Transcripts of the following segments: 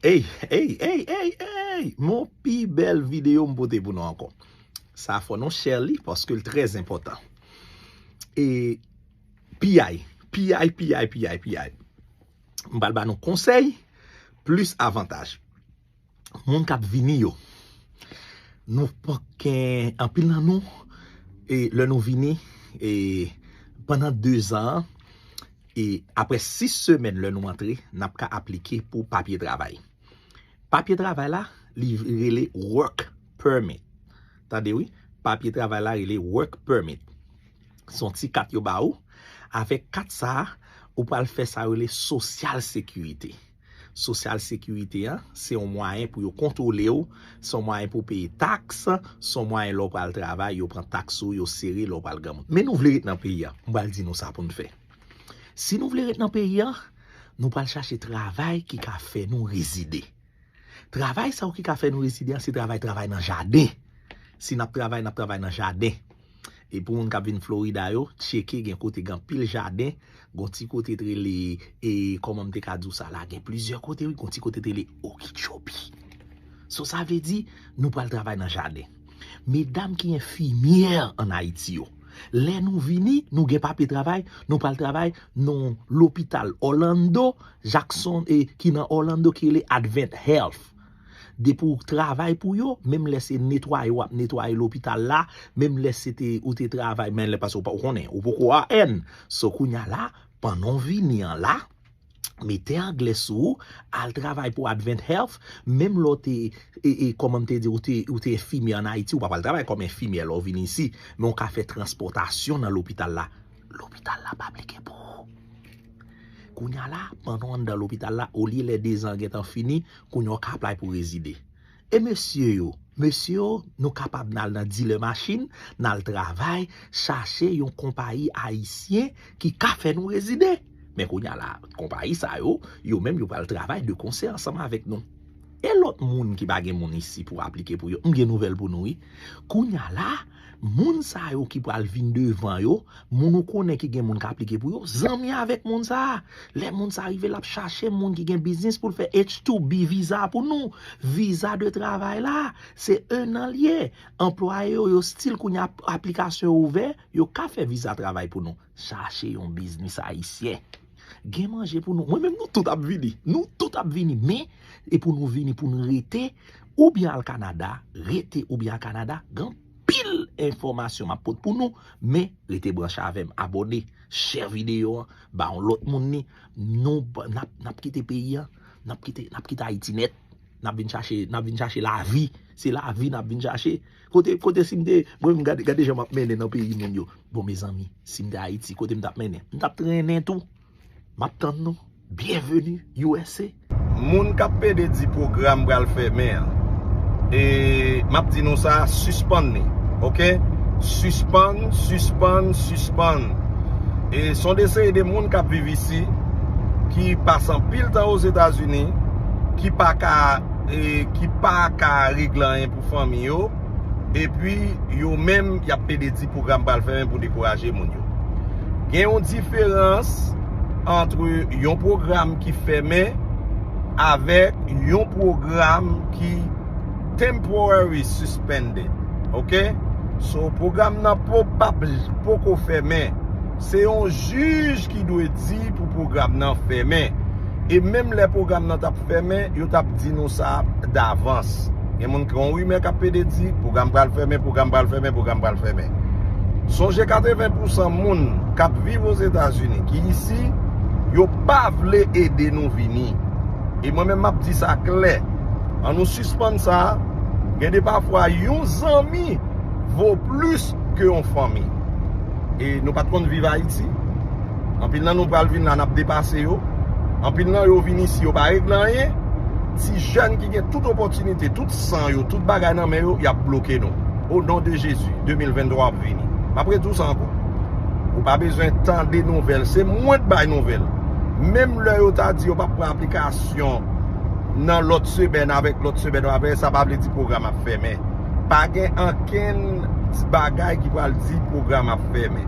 Eyy eyy eyy eyy eyy mon pi bèl video m pote pou nou ankò sa fò nou share li paske l trè enpòtan e piyay piyay piyay piyay piyay m pral ba nou konsèy plis avantaj. moun kap vini yo nou pa gen anpil nan nou e lè nou vini e pandan 2 zan e aprè 6 semèn lè nou antre nap ka aplike pou papye travay papye travay la li rele work permit tande wi papye travay la rele work permit son ti kat yo ba ou avèk kat sa ou pral fè sa rele sosyal sekirite. Sosyal sekirite an, se yon mwayen pou yo kontwole w, se yon mwayen pou w peye taks, se yon mwayen lè w pral travay, yo pran taks sou ou, yo sere lè w pral granmoun. Men nou vle ret nan peyi a, m pral di nou sa pou n fè. Si nou vle ret nan peyi a, nou pral chache travay ki ka fè nou rezide. Travay sa yo ki ka fè nou rezide an, se travay travay nan jaden. Si n ap travay, n ap travay nan jaden. E pou moun kap vin Florida yo, tcheke gen kote gen anpil jaden, gon ti kote te rele, e kòman m te ka di w sa la, gen plizyè kote wi, gon ti kote te rele Okeechobee. So sa vle di, nou pral travay nan jaden. Medam ki enfimyè an Ayiti yo, lè nou vini, nou gen papye travay, nou pral travay nan lopital Orlando, Jackson, e ki nan Orlando ki rele Advent Health. Depi w travay pou yo, menm lè se netwaye w ap netwaye lopital la, menm lè se te ou te travay, men lè pase w pa ou konnen, ou poko a èn. So kounya la, pandan w vini an la, mete anglè sou ou, al travay pou Advent Health, menm lè w te, e, e, kòman m te di, ou te, ou te enfimyè an Ayiti, ou pa pral travay kòm enfimyè lè w vini isi, men w ka fè transpòtasyon nan lopital la. Lopital la ap aplike pou ou. Kounya la, pandan w anndan lopital la, olye lè dezan an gentan fini, Kounye a w ka aplay pou rezide. E mesye yo? Mesye yo, nou kapab nan al nan dilè machin, nan al travay, chache yon konpayi ayisyen ki ka fè nou rezide. Men kounye a la, konpayi sa yo, yo menm yo pral travay de konsè ansanm avèk nou. E lòt moun ki pa gen moun isi pou aplike pou yo, m gen nouvèl pou nou wi. Kounye a la. Moun sa yo ki pral vin devan yo, moun ou konnen ki gen moun ka aplike pou yo, zanmi avèk moun sa. Lè moun sa rive lap chache moun ki gen biznis pou l fè H2B viza pou nou. Viza de travay la, se 1 an li ye. Anplwaye yo yo stil kounye a aplikasyon yo ouvè, yo ka fè viza travay pou nou. Chache yon biznis ayisyen. Gen manje pou nou. Mwen menm nou tout ap vini. Nou tout ap vini. Men, e pou nou vini pou nou rete, ou byen al Kanada, rete ou byen al Kanada, gen pil enfòmasyon m ap pot pou nou. Men, rete branche avè m. Abòne, share videyo an, ba yon lòt moun li. Nou, n ap, n ap kite peyi an. N ap kite, n ap kite Ayiti nèt. N ap vin chache, n ap vin chache lavi. Se lavi n ap vin chache. Kote kote sim te mwen menm gade gade jan map mennen nan peyi moun yo bon mezanmi sim te ayiti kote mtap mennen mtap trennen tou map tann nou byenveni usa. Moun kap pede di program pral fèmen an e map di nou sa sispann li ok sispann sispann sispann e son de seri de moun kap viv isi ki pase anpil tan ozetazini ki paka e ki paka regle anyen. fanmi yo, epi yo menm y ap plede di pwogram pral fèmen pou dekouraje moun yo. Gen yon diferans antre yon pwogram ki fèmen avèk yon pwogram ki temporary suspended. Ok? So, pwogram nan poko fèmen. Se yon jij ki dwe di pou pwogram nan fèmen. E menm lè pwogram nan tap fèmen, yo tap di nou sa davans. Gen moun ki yon rimè kap pede di, pwogram pral fèmen, pwogram pral fèmen, pwogram pral fèmen. Sonje 80 pousan moun kap viv Ozetazini ki isi, yo pa vle ede nou vini. E mwen menm map di sa klè, an nou sispann sa, gen de pafwa yon zanmi vo plis ke yon fanmi. E nou pat konn viv Ayiti? Anpil nan nou pral vin la nap depase yo. Anpil nan yo vin isi yo pa regle anyen. Ti jèn ki gen tout opotinite, tout san yo, tout bagay nan men yo, yap bloke nou. O non de Jezi, 2023 ap vini. Map redi w sa anko. Ou pa bezwen tande nouvel. Se mwen k bay nouvel. Menm lè yo ta di yo pap pran aplikasyon nan lot semen avek lot semen wap veye sa pa vle di program ap femen. Pa gen ankenn bagay ki pral di program ap femen.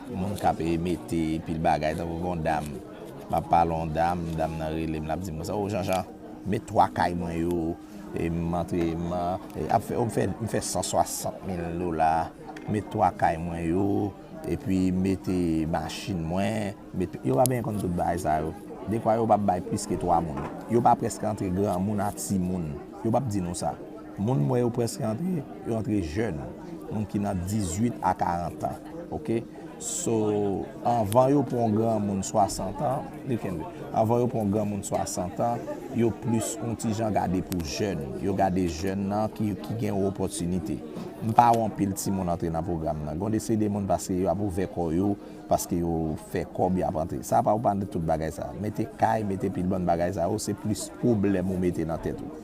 Moun k ap mete pil bagay tankou gen yon dam, m ap pale yon dam, dam nan rele m l ap di m konsa, o Janjan, met 3 kay mwen yo, m antre, m ap fè, o m fè, m fè 160 mil dola, met 3 kay mwen yo, epi mete machin mwen, met, yo pa benyen konn tout bagay sa yo. Dekwa yo pa bay plis ke 3 moun. Yo pa prèske antre granmoun a timoun. Yo p ap di nou sa. Moun mwen yo preske antre, yo antre jèn, moun ki nan 18 a 40 an ok, so anvan yo pran yon granmoun 60 an, li kenbe, anvan yo pran yon granmoun 60 an, yo plis yon ti jan gade pou jèn, yo gade jèn nan ki gen yon opòtinite. M pa wè anpil timoun antre nan pwogram nan, gen yon de seri de moun paske yo ap ouvè kò yo, paske yo fè kòb yo ap antre, sa pa ou pa antre tout bagay sa, mete kay, mete pil bann bagay sa yo se plis pwoblèm ou mete nan tèt ou.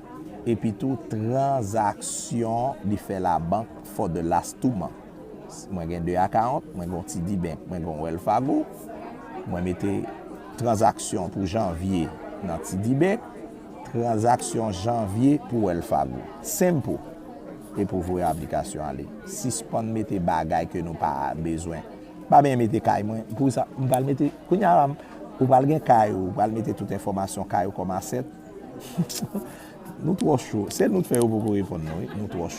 epitou tranzaksyon li fè labank for the last two months. Mwen gen 2 account, mwen gen yon TD Bank, mwen gen yon Wells Fargo. Mwen mete tranzaksyon pou janvye nan TD Bank, tranzaksyon janvye pou Wells Fargo. Simple! E pou voye aplikasyon ale. Sispann mete bagay ke nou pa bezwen. Pa benyen mete kay mwen. Pou sa, m pral mete, kounye a la, ou pral gen kay ou, ou pral mete tout enfòmasyon kay ou kòm asset. Nou twò cho. Sèl nou t fè yo poko reponn nou wi. Nou twò cho.